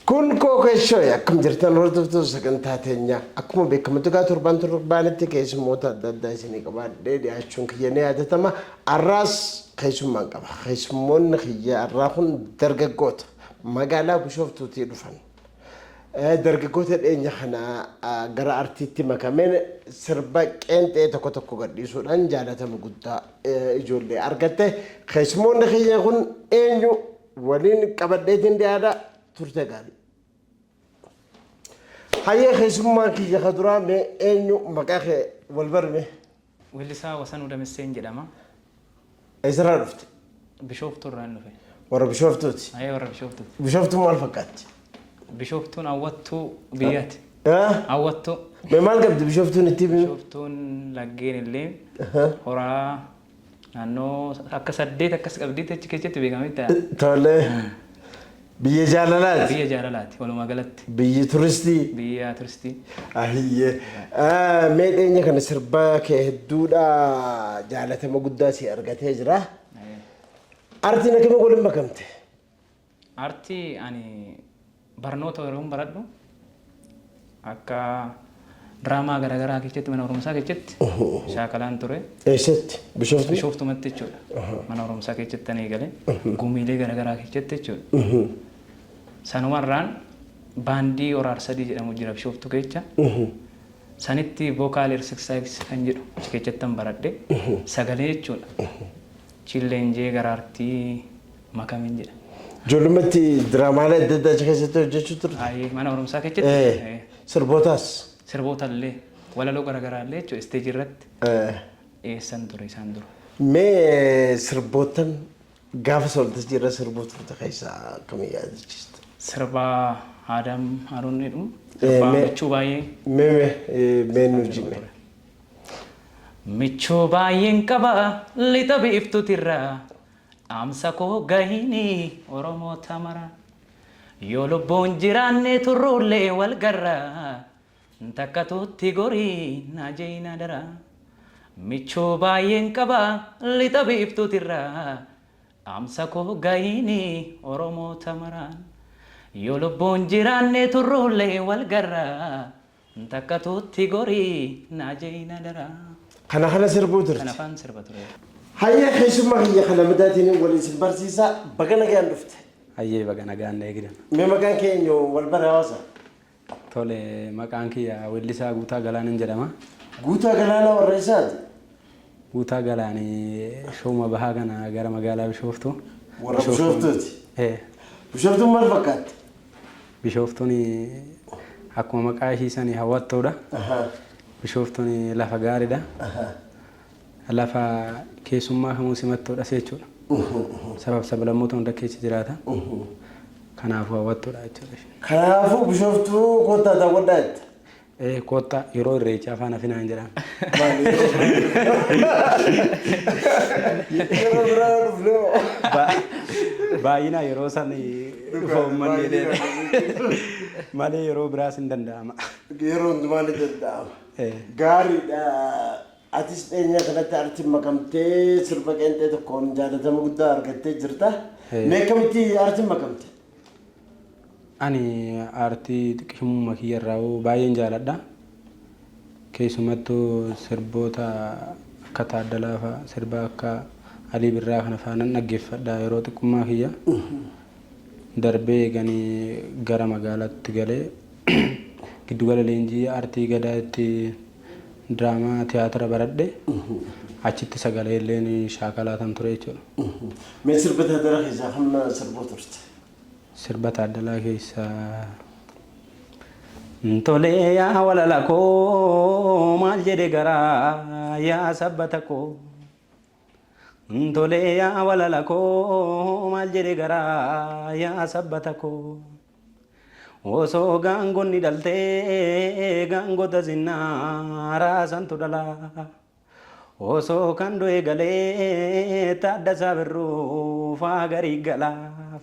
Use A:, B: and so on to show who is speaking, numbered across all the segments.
A: Kun kookeeshoo akkam jirtan hordoftoota sagantaa teenyaa akkuma beekamu tugaa torban torbanitti keessummoota adda addaa isinii qabaadhee dhiyaachuun kiyya ni yaadatama. Arraas keessummaan qaba. Keessummoonni kiyya arraa kun dargaggoota magaalaa Bishooftuutii dhufan. Dargaggoota dhiyeenya kana gara artiitti makameen sirba qeenxee tokko tokko gadhiisuudhaan jaalatama guddaa ijoollee argatte. Keessummoonni keenya kun eenyu waliin qabadheetiin dhiyaadha turte gaarii. Hayyee keessummaan kiyya ka duraa mee eenyu maqaa kee wal barme? Weellisaa
B: Wasanuu Damisseen jedhama.
A: Eessarraa dhufte? Bishooftuurraan
B: dhufe. Warra Bishooftuuti?
A: Ee warra Bishooftuuti.
B: Bishooftuun maal fakkaatti?
A: Bishooftuun
B: hawwattuu biyyaati. Haa? Hawwattuu. Mee maal qabdi
A: Bishooftuun itti himi? Bishooftuun laggeen
B: illee horaa naannoo akka saddeet akkas qabdiitti achi keessatti beekamee ta'a. Tole.
A: Biyya jaalalaati. Biyya jaalalaati walumaa
B: galatti. Biyyi turistii.
A: Biyya turistii.
B: Ahiyyee.
A: Ah, Mee dhiyeenya kana sirba kee hedduudha jaalatama guddaa si argatee jira. Artiin akkami waliin makamte?
B: Artii ani barnoota yeroon baradhu Akka diraamaa garaagaraa keessatti mana barumsaa keessatti shaakalaan ture. Eessatti? Bishooftuu?
A: Bishooftumatti jechuudha.
B: Mana barumsaa keessatti tan eegale. Gumiilee garaagaraa keessatti jechuudha. Sanumarraan baandii horaar sadii jedhamu jira bishooftuu keessa. Sanitti vokaal ersisaayiks kan jedhu achi keessatti tan baradhe. Sagalee jechuudha. Chilleenjee garaartii Makamin jedha. Ijoollummeetti
A: diraamaalee adda addaa achi keessatti hojjechuu turte. Ayi mana barumsaa Eh,
B: keessatti Sirbootaas.
A: sirboota illee
B: walaloo garaagaraa illee jechuudha isteejii irratti Eh, dhiyeessan ture isaan dura. Mee
A: sirbootan gaafa sooltajii irra sirbuu turte keessaa akkamii yaadachiista? Sirba
B: Aadaam Haaruun jedhu Eh, sirba mee- michuu baay'ee Mee mee eh,
A: mee nu jime.
B: Michuu baay'een qaba lixa biiftuutirra Dhaamsa koo gahiini Oromoota mara. Yoo lubbuun jiraanne turruullee wal garra. Takkatuutti gori naa je'iin adara. Michuu baay'een qaba lixa biiftuutirra. Dhaamsa koo gahiini Oromoota maraan. Yoo lubbuun jiraanne turruullee wal garra. Takkatu itti gori naa jeyin adaraa. Kana kana
A: sirbuu turte. Kana faan sirba ture.
B: Hayyee keessummaa
A: kiyya kan Hamadaatiin wal isin barsiisaa baga nagaan dhufte. Hayyee baga nagaan
C: na eegdan. Mee maqaan kee eenyu
A: wal bari hawaasa? Tole
C: maqaan kiyya weellisaa Guutaa Galaanan jedhama. Guutaa Galaanaa
A: warra eessaati? Guutaa
C: Galaanee shooma bahaa kana gara magaalaa Bishooftuu. Warra Bishooftuuti?
A: Ee. Bishooftuun maal fakkaatti? Bishooftuun
C: akkuma maqaa ishii sani hawwattuudha. Bishooftuun lafa gaariidha. Lafa keessummaa kamuu simattuudha jechuudha. Sabab sablammoota hunda keessa jiraata. Kanaafuu hawwattuudha jechuudha. Kanaafuu
A: Bishooftuu kottaa daawwadhaa jetta? Ee koottaa
C: yeroo irreechaa afaan hafinaan jedhaan.
A: Yeroo biraa yoo dhufne hoo? Baay'inaa yeroo
C: san dhufa uummanni jedhee malee yeroo biraas hin danda'ama. Yeroo hundumaa
A: ni danda'ama. Ee. Gaariidha. Atis dhiyeenya kanatti artiin makamtee sirba qeenxee tokkoon jaalatama guddaa argattee jirta. Ee. Mee akkamitti artiin makamte?
C: Ani aartii xiqshummuuma kiyya irraahuu baay'een jaaladha. Keessumattuu sirboota akka Taaddalaa fa'a, sirba akka Alii Birraa kana fa'a nan dhaggeeffadha yeroo xiqqummaa kiyya. Darbee eegani gara magaalaatti galee giddugala leenjii aartii Gadaatti diraamaa tiyaatira baradhe. Achitti sagaleelleen shaakalaatan ture jechuudha. Mee sirba
A: Taaddalaa keessaa kam na sirbuu turte? Sirba
C: Taaddalaa keessaa. Tolee yaa walala koo maal jedhe garaa yaa sabbata koo. Tole yaa walala koo maal jedhe garaa yaa sabbata koo Osoo gaangonni dhaltee gaangota zinnaaraa santu dhala Osoo kan du'e galee Taaddasaa Birruu faa garii gala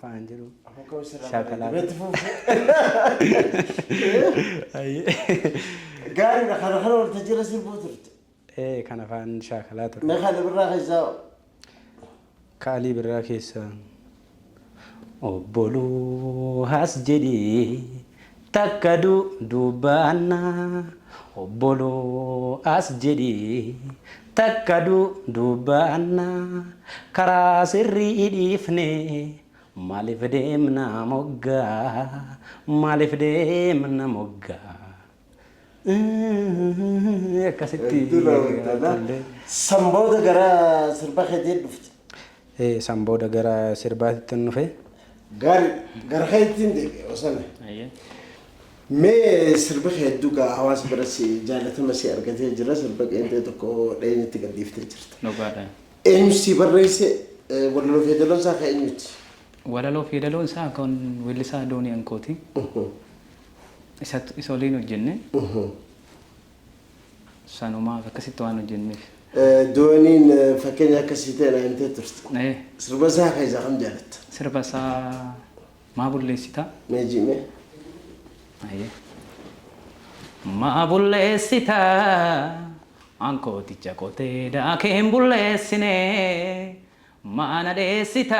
C: faan jedhu shaakala
A: Gaariidha kana kana waltajjii irra sirbuu turte. ee kana faan
C: shaakalaa ture. Mee ka Ali Birraa keessaa hoo?
A: Ka Ali
C: Birraa
A: keessaa. Obboluu
B: has jedhii takka du dubbaannaa Obboluu as jedhii takka du dubbaannaa Karaa sirrii dhiifnee maaliif deemna moggaa Maaliif deemna moggaa. Akkasitti San booda
A: gara sirba keetii dhufte. San booda
C: gara sirbaatitti nufe. Gaari
A: gara keettiin deebi'e osana. Mee sirbi kee hedduu gaa hawaasa bira si jaalatama si argatee jira sirba qeenxee tokko dheenyatti gadhiiftee jirta. Dhugaadha. Eenyu
B: si
A: barreesse walaloo fi yeedaloon isaa kan eenyuti? Walaloo fi
B: yeedaloon isaa kan weellisaa Doonii Ankooti. isa oliin hojjenne sanumaaf akkasitti waan hojjenneef. Dooniin
A: fakkeenya akkasii ta'e na himtee turte. Sirba isaa keessaa kam jaalatta? Sirba isaa
B: maa bulleessita? Mee
A: jiime.
B: Maa bulleessita ankooticha qotee daakeen bulleessine maa na dheessita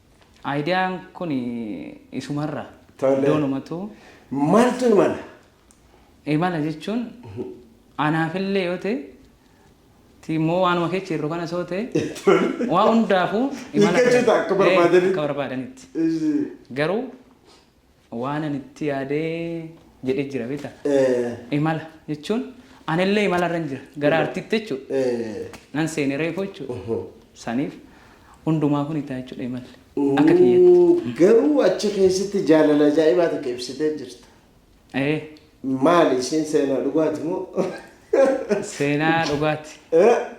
A: Idea
B: kun isumarra Tole. iddoon umatuu Maaltu
A: imala? imala
B: jechuun anaafillee yoo ta'e ti immoo waanuma keessa jirru kana soo ta'e waa hundaafuu Hiikkachuuta akka
A: Eh, barbaadanitti. akka barbaadanitti
B: Ishii. garuu Waanan itti yaade jedhee jira beektaa? Eh. Imala jechuun anillee imalarran jira gara artiitti jechuudha. Eh. Nan seene reefu jechuudha. Oho. Saniif hundumaa kun itaa jechuudha imalli. Akka kiyyatti. Uuu, Garuu achi
A: keessatti jaalala ajaa'ibaa takka ibsitee jirta. Ee. Maali ishiin seenaa dhugaati moo?
B: Seenaa dhugaati.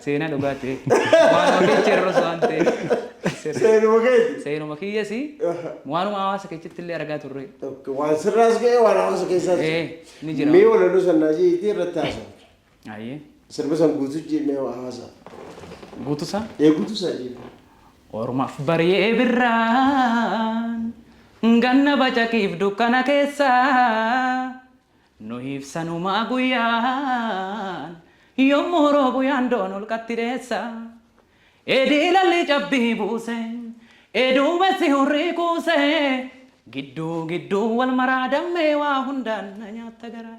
B: Seenaa dhugaati. Waan olii jirrus waan ta'eef. Seenuma
A: keeti. Seenuma kiyyasi
B: waanuma hawaasa keessatti illee argaa turre. Waan sirraas
A: ga'ee waan hawaasa keessaas. Ni jira. Mee
B: walaloo sannaa
A: jiitii irratti haasa'u. Ayyee.
B: Sirba san guutuu
A: jennee waa haasaa. Guutu
B: isaa? Ee guutu isaa jennee.
A: Ormaaf
B: bari'ee birraan ganna bacaqiif dukkana keessa nuhiif sanumaa guyyaan yommuu roobu yaandoon holqatti dheessa edii lalli cabbii buuse eduu messi hurrii kuuse gidduu gidduu wal maraa dammee waa hundaan na nyaatta garaa.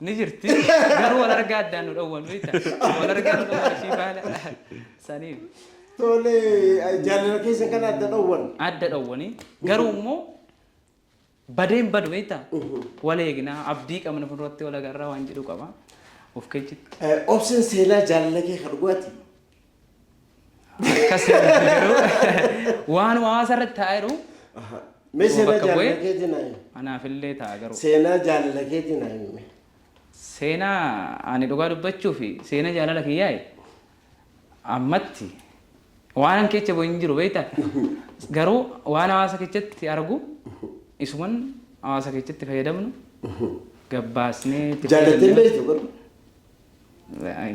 A: Ni jirti
B: garuu wal argaa addaan nu dhowwan beekta. Wal argaa nu dhowwan ishii faana saniif. Tole
A: jaalala keessa kan adda dhowwan. Adda dhowwani
B: garuu immoo badeen badu beekta. Wal eegnaa abdii qabna fuulduratti wal agarraa waan jedhu qaba. Of keechitti. Obseen seenaa
A: jaalala kee kan dhugaati.
B: Akkas garuu waan hawaasa irratti taa'aa jiru Mee
A: Yoo seenaa bakka jaalala bu'ee- keetii naa
B: himi. anaaf
A: illee ta'a garuu.
B: Seenaa jaalala keetii
A: naa himi. Seenaa
B: ani dhugaa dubbachuu fi seenaa jaalala kiyyaa'e ammatti waan keessa bu'e hin jiru beektaa? Garuu waan hawaasa keessatti argu isuman hawaasa keessatti fayyadamnu gabbaasnee itti Jaalatee fayyadamnu.
A: beektu garuu.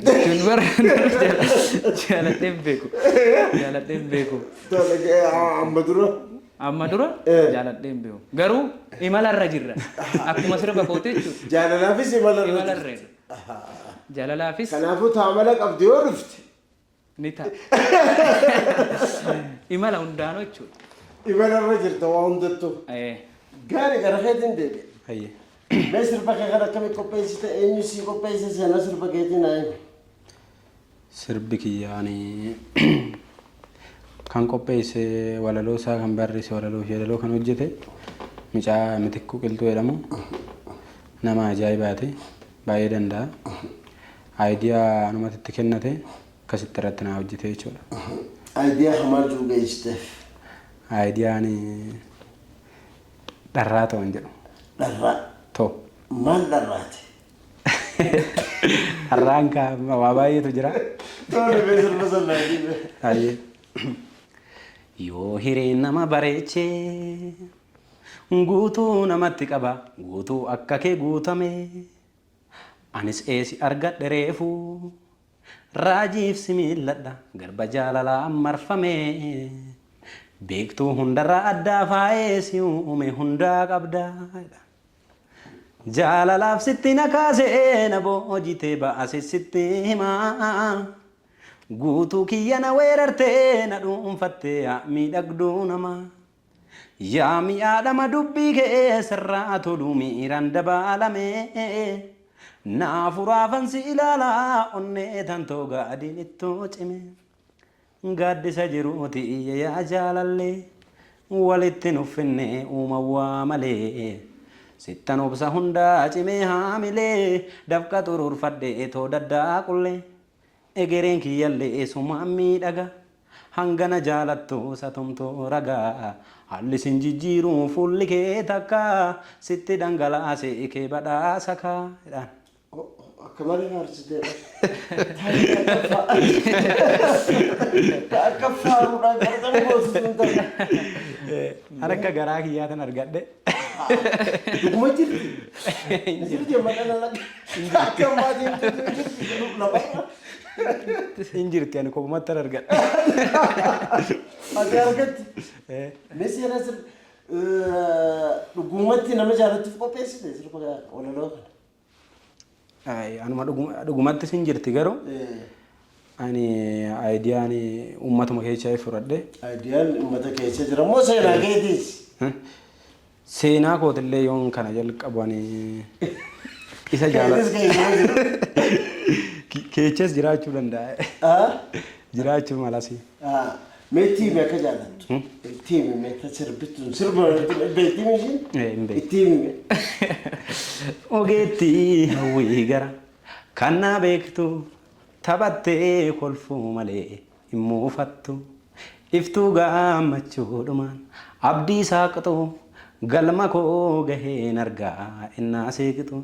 A: Jechuun
B: bara jaaladhee hin beeku. Jaaladhee hin beeku. Amma dura. Amma dura Eh. jaaladhee hin beeku. Garuu imalarra jirra. Akkuma sirba kootee jechuudha. Jaalalaafis imalarra.
A: Imalarra.
B: Jaalalaafis Kanaafuu taamala
A: qabdi yoo dhufte. Ni
B: ta'a. Imala hundaanuu jechuudha. Imala irra jirta
A: waa hundattuu. Eh, Gaari gara keetiin deebi'e. Hayyee.
C: Mee sirba
A: kee kana akkamitti qopheessite eenyu sii qopheesse seenaa sirba keetiin haa himu.
C: Sirbi kiyyaanii kan qopheesse walaloo isaa kan barreesse walaloo fi walaloo kan hojjete mucaa mitikkuu qilxuu jedhamu nama ajaa'ibaati. Baay'ee danda'a. Idea anumatu itti kennate akkasitti irratti naa hojjete jechuudha. Idea
A: hamaa jiru geessiteef. Idea
C: ani dharraa toon jedhu. Dharraa.
A: To.
C: Maal dharraati? Dharraan kaa waa baay'eetu jira. Tooni bee
A: sirba sannaa jibe. Baay'ee.
C: Yoo hireen nama bareechee. Guutuu namatti qaba guutuu akka kee guutame Anis ee si argadhe reefu raajiif si miilladha garba jaalalaan marfame Beektuu hundarraa addaa faayee si uume hundaa qabda jedha Jaalalaaf sitti na kaase na boojitee baase sitti hima Guutuu kiyya na weerarte na dhuunfatte yaa miidhagduu namaa. Yaa mi'aa dhama dubbii kee sirraa tolu miiraan dabaalame Naa furaafan si ilaala onnee tan too gaadiin ittoo cime Gaaddisa jiruuti iyya yaa jaalalle Walitti nuf finne uuman waa malee Sittan obsa hundaa cimee haamilee Dafqa xuruurfadhe too daddaaqullee Egereen kiyyallee eesumaan miidhaga Hanga na jaalattu satumtu raga Haalli sin jijjiiru fuulli kee takka Sitti dhangalaase kee badhaasa ka jedhaan. Akka
A: malee na arsitee bar. Ta akka faaruudhaan qarqara boosisuun
C: ta'e. An akka garaa kiyyaatin argadhe.
A: Dhuguma jirti. Jirti amma kana lakka. Akka ammaa deemtu jirti jedhu lafa irra.
C: Hin jirti ani kopumatti hin argadha.
A: Ati argatti. Eh, Mee seenaa sir dhugumatti nama jaallattuuf qopheessite sirba walaloo kana.
C: Anuma dhugumatti sin jirti garuu ani aayidiyaan uummatuma keessaa fudhadhe. Aayidiyaan uummata
A: keessa jira moo seenaa keetiis?
C: Seenaa kootillee yoon kana jalqaban isa jaalladha. Keechas jiraachuu danda'a. Jiraachuu malas. Meetii
A: himi akka jaallattu. Itti himi meeta sirbituun sirba beektii mishiin. Hin beeku. Itti himi.
C: Ogeettii hawwii gara kan naa beektu taphattee kolfuu malee hin muufattu. Iftuu gammachuudhumaan abdii saaqxu galma koo gaheen argaa ennaa seeqxu.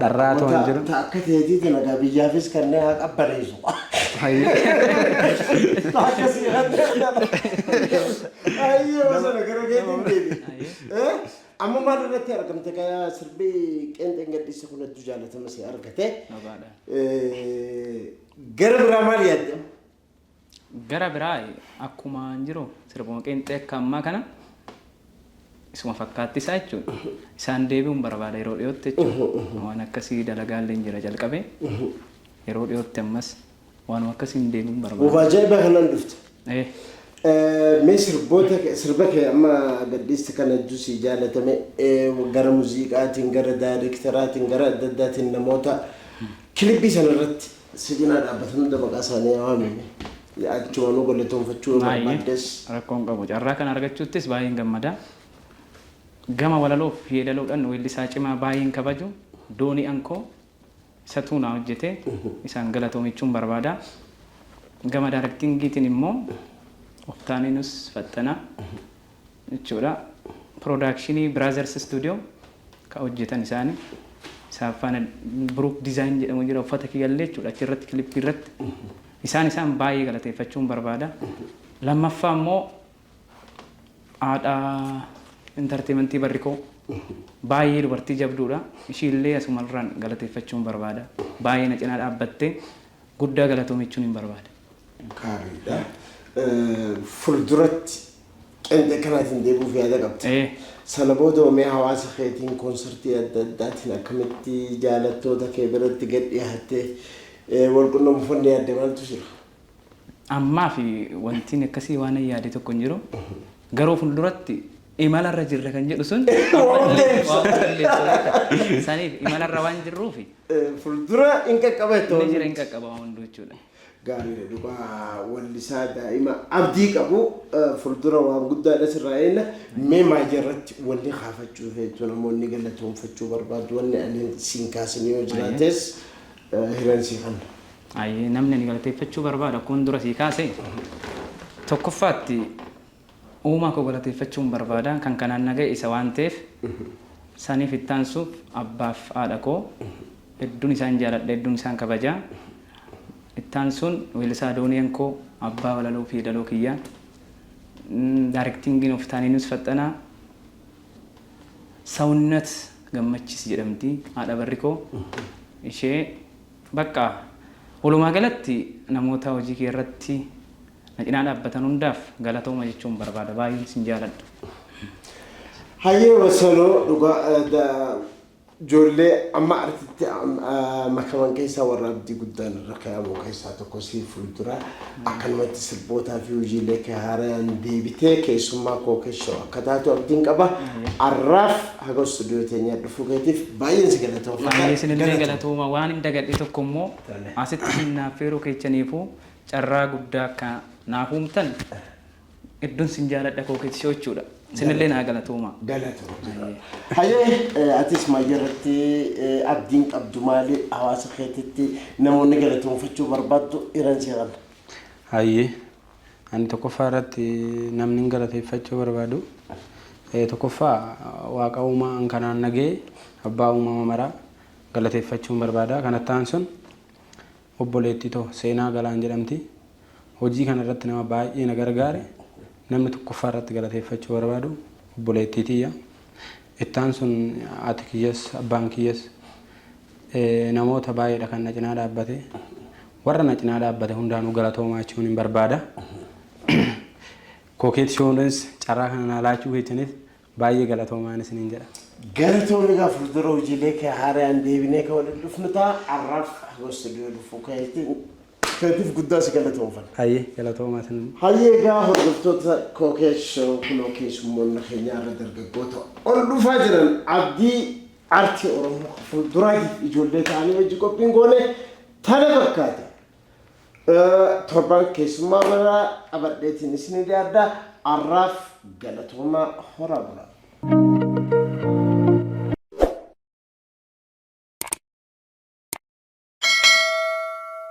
C: Dharraa toon jiru. Ta akka teetii dalagaa
A: biyyaafis kannee haa qabbaneessu. Ta akka siirratti argama. Ayyee masana gara keetiin deebi. Eh? Amma maal irratti argamte kaya sirbii qeenxeen gadhiise kun hedduu jaalatama si argate. Eh, Gara biraa maal yaadde?
B: Gara biraa akkumaan jiru sirbuma qeenxee akka ammaa kana isuma fakkaatti isaa jechuudha. Isaan deebi'uun barbaada yeroo dhiyootti jechuudha. Waan akkasii dalagaallee hin jira jalqabee yeroo dhiyootti ammas waanuma akkasiin deebi'uun barbaada. Uuf ajaa'ibaa kanaan dhufte.
A: Eh, Eh, Mee sirboota kee- sirba kee amma gadhiiste kana hedduu sii jaalatame eh, gara muuziqaatiin gara daayirektaraatiin gara adda addaatiin namoota kilippii sana irratti Si cinaa dhaabbatan hunda maqaa isaanii haa waamii mee. Yaa achumaanuu galatoomfachuu yoo Baay'ee barbaaddes. rakkoo hin qabu. Carraa
B: kana argachuuttis baay'een gammada. Gama walaloof yeedaloodhan weellisaa cimaa baay'een kabaju Doonii Ankoo isatuu naa hojjete. Isaan galatoomichuun barbaada. Gama daarektiingiitiin immoo Oftaaneenus Faxxanaa. jechuudha. Piroodakshinii Brothers Studio kan hojjetan isaani. Isaan faana Brook Design jedhamu jira uffata kiyyallee jechuudha achirratti kilippii irratti. Isaan isaan baay'ee galateeffachuun barbaada. Lammaffaa immoo haadha intarteementii barrikoo baay'ee dubartii jabduudha. Ishiillee asumarraan galateeffachuun barbaada. Baay'ee na cinaa dhaabbattee guddaa galatoomi jechuun hin barbaada. Gaariidha.
A: Fulduratti Qenxee kanaatiin deebi'uuf yaada qabda. Ee. Sana booda hoo mee hawaasa keetiin konsartii adda addaatiin akkamitti jaalattoota kee biratti gad dhiyaattee ee, wal qunnamuuf wanni yaadde maaltu jira? Ammaaf
B: wantiin akkasii waanan yaade tokko hin jiru. Garuu fulduratti imalarra jirra kan jedhu sun Waa hunda ibsa. waa hunda ibsa jechuudha. Saniif imalarra waan jirruufi Ee, Fuuldura
A: hin qaqqabeettu. inni jira hin qaqqaba waa
B: hunduu jechuudha. Gaariidha dhugaa
A: wallisaa daa'ima abdii qabu fuldura waan guddaadha sirraa eenna mee maayii irratti wanni kaafachuu feetu namoonni galatoomfachuu barbaadu wanni ani siin kaasin yoo jiraates hiran sii kanna. Ayyee namni ani
B: galateeffachuu barbaadu akkuma dura sii kaase tokkoffaatti Uumaa koo galateeffachuun barbaada. Kan kanaan na ga'e isa waan ta'eef. Saniif itti aansuuf abbaaf haadha koo hedduun isaan jaaladha, hedduun isaan kabaja. Itti aansuun weellisaa Adooniyaan koo abbaa walaloo fi yeedaloo kiyya. Daarektiingiin of Taaniinus Faxxanaa. Sawunnat Gammachiis jedhamti haadha barri koo. Ishee baqqa walumaa galatti namoota hojii kiyya irratti Na cinaa dhaabbatan hundaaf galatooma jechuun barbaada. Baay'een isin jaaladha.
A: Hayyee wasaloo dhugaa ijoollee amma artitti makaman keessaa warra abdii guddaan irra kaa'amu keessaa tokko sii fuuldura akkanumatti sirbootaa fi hojiilee kee haaraan deebitee keessummaa koo keessoo akka taatu abdiin qaba arraaf haga istuudiyoo teenyaa dhufuu keetiif baay'een si galatoomfata. Baay'ee isinillee galatooma
B: waan hin dagadhe tokko immoo asitti isin naaf feeruu keessaniifuu Carraa guddaa akka naaf uumtan hedduun sin jaaladha koo keeti si'ochuudha. Sinillee naa galatoomaa. Galatoo
A: jira. Hayyee eh, atis mayya irratti eh, abdiin qabdu maali hawaasa keetitti namoonni galatoonfachuu barbaaddu iran seeran. Hayyee
C: ani tokkoffaa irratti namni hin galateeffachuu barbaadu Eh, tokkoffaa waaqa uumaa an kanaan nagee abbaa uumama maraa galateeffachuun barbaada kanattaan sun Obboleettii too Seenaa Galaan jedhamti. Hojii kana irratti nama baay'ee na gargaare. Namni tokkoffaa irratti galateeffachuu barbaadu obboleettii tiyya. Itti aansuun haati kiyyas, abbaan kiyyas namoota baay'eedha kan na cinaa dhaabbate. Warra na cinaa dhaabbate hundaanuu galatoomaa jechuun hin barbaada. Kookeet Shoowunis carraa kana naa laachuu keessaniif Baay'ee galatoomaan isiniin jedha. Galatoomi egaa
A: fuuldura hojiilee kee haarayaan deebinee kan waliin dhufnu ta'a. Har'aaf hanga istuudiyoo dhufuu keetiin keetiif guddaa si galatoomfanna. Hayyee galatoomaa isin.
C: Hayyee egaa
A: hordoftoota Kookeet Show kunoo keessummoonni keenya har'a dargaggoota ol dhufaa jiran abdii aartii Oromoo fuulduraatiif ijoollee ta'anii hojii qophiin goone tana fakkaata. Torban keessummaa biraa qabadheetiin isinii dhiyaadha. Arraaf galatoomaa horaa bulaa.